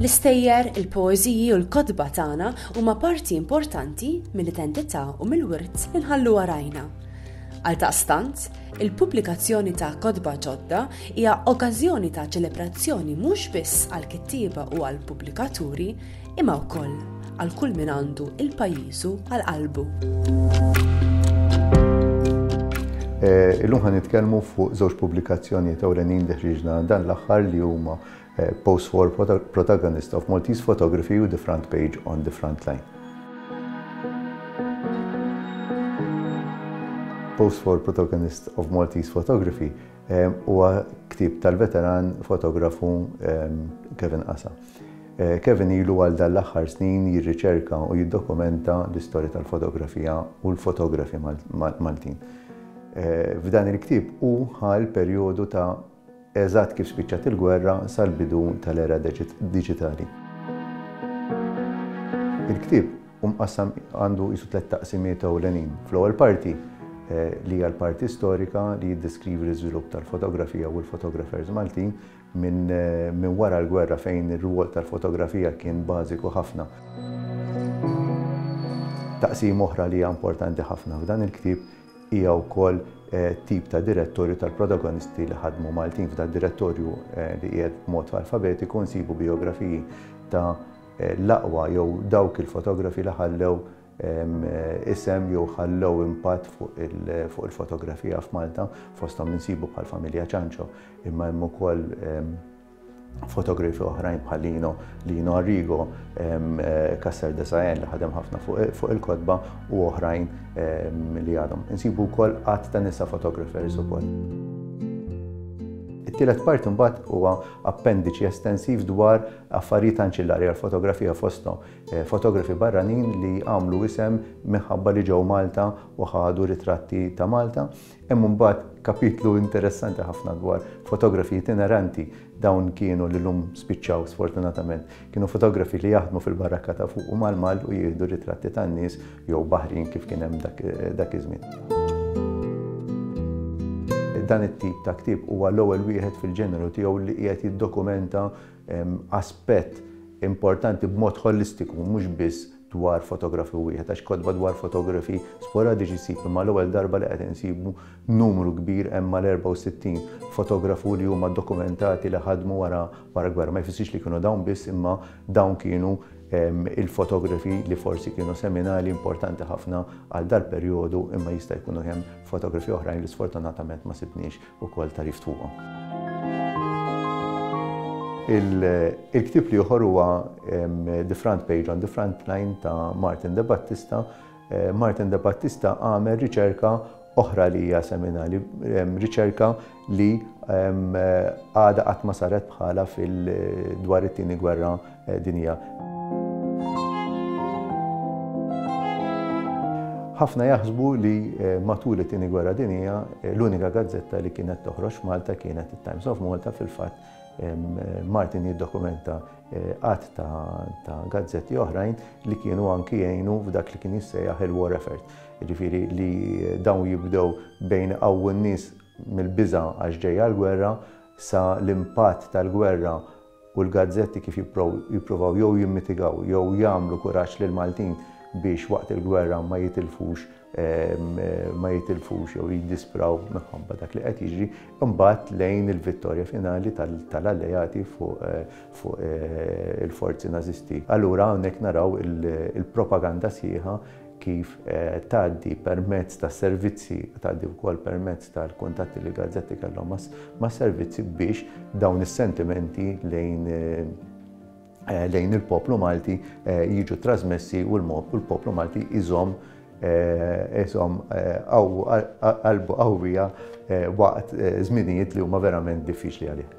L-istejjer, il-poeżiji u l-kotba tagħna huma parti importanti mill-identità u mill-wirt li nħallu warajna. Għal taqstant, il-pubblikazzjoni ta' kotba ġodda hija okkażjoni ta' ċelebrazzjoni mhux biss għal kittieba u għal pubblikaturi, imma wkoll għal kull min għandu il-pajjiżu għal qalbu. Eh, illum ħan nitkellmu fuq żewġ pubblikazzjonijiet ewlenin li ħriġna dan l-aħħar li huma eh, Post War Protagonist of Maltese Photography u The Front Page on the Front Line. Post War Protagonist of Maltese Photography Huwa ktieb tal-veteran fotografu Kevin Qasa. Kevin ilu għal dan l-aħħar snin jirriċerka u jiddokumenta l-istorja tal-fotografija u l-fotografi Maltin. F'dan il-ktieb hu ħa l-perjodu ta' eżatt kif spiċċat il-gwerra sal-bidu tal-era diġitali. Il-ktieb Hu mqassam għandu qisu tliet taqsimiet ewlenin. Fl-ewwel parti, li hija l-parti storika li jiddeskrivi l-iżvilupp tal-fotografija u l-fotografers Maltin minn wara l-gwerra fejn ir-rwol tal-fotografija kien bażiku ħafna. Taqsima oħra li hija importanti ħafna f'dan il-ktieb hija wkoll tip ta' direttorju tal-protagonisti li ħadmu Maltin. F'dal-direttorju li qiegħed b'mod alfabetiku nsibu bijografiji ta' l-aqwa jew dawk il-fotografi li ħallew isem jew ħallew impatt fuq il-fotografija f'Malta, fosthom insibu bħall-familja Ciancio, imma hemm ukoll fotografi oħrajn bħal Lino, Lino Arrigo, Cassar de Saen li ħadem ħafna fuq il-kotba u oħrajn li għadhom. Insibu wkoll għadd ta' nisa photographers ukoll. It-tielet parti mbagħad huwa appendiċi estensiv dwar Affarijiet anċillari għall-fotografija fosthom fotografi barranin li għamlu isem minħabba li ġew Malta u ħadu ritratti ta' Malta. Hemm imbagħad kapitlu interessanti ħafna dwar fotografi itineranti. Dawn kienu li llum spiċċaw sfortunatament. Kienu fotografi li jaħdmu fil-barakka ta' fuq u mal-mall u jieħdu ritratti tan-nies jew baħrin kif kien hemm dak iż-żmien. Dan it-tip ta' ktieb huwa l-ewwel wieħed fil-ġeneru tiegħu li qiegħed jiddokumenta aspett importanti b'mod ħolistiku mhux biss dwar fotografu wieħed għax kotba dwar fotografi sporadiċi ssib imma l-ewwel darba li qed insibu numru kbir hemm mal-64 fotografu li huma dokumentati li ħadmu wara wara gwerra. Ma jfissirx li kienu dawn biss imma dawn kienu il-fotografi li forsi kienu seminali importanti ħafna għal dal-perjodu imma jista' jkunu hemm fotografi oħrajn li sfortunatament ma sibniex ukoll tagħrif fuqhom. Il-ktieb l-ieħor huwa The Front Page on the Front Line ta' Martin De Battista. Martin De Battista għamel riċerka oħra li hija seminali, riċerka li għada qatt ma saret bħala fil-dwar it-tieni gwerra Din hija. Ħafna jaħsbu li matul it-tieni gwerra dinija l-unika gazzetta li kienet toħroġ Malta kienet it-Times of Malta fil-fatt Martin jiddokumenta eh, għat ta' gazzetti oħrajn li kienu anki jgħinu f'dak li kien jissejjaħ il-war effort. Ġifiri li dawn jibdew bejn għaw n-nis mill-biza għax ġejja l-gwerra sa l-impatt tal-gwerra u l-gazzetti kif jippruvaw jew jimmitigaw jew jagħmlu kuraġġ lill-Maltin biex waqt il-gwerra ma jitilfux ma jitilfux jew jiddispraw minħabba dak li qed jiġri, imbagħad lejn il-vittorja finali tal-Alleati fuq il-forzi Nażisti. Allura hawnhekk naraw il-propaganda sħiħa kif tgħaddi permezz ta' servizzi, tgħaddi wkoll permezz tal-kuntatti li l-gazzetti kellhom mas-servizzi biex dawn is-sentimenti lejn lejn il-poplu Malti jiġu trasmessi u l-poplu Malti iżomm iżomm qalbu qawwija waqt żminijiet li huma verament diffiċli għalih.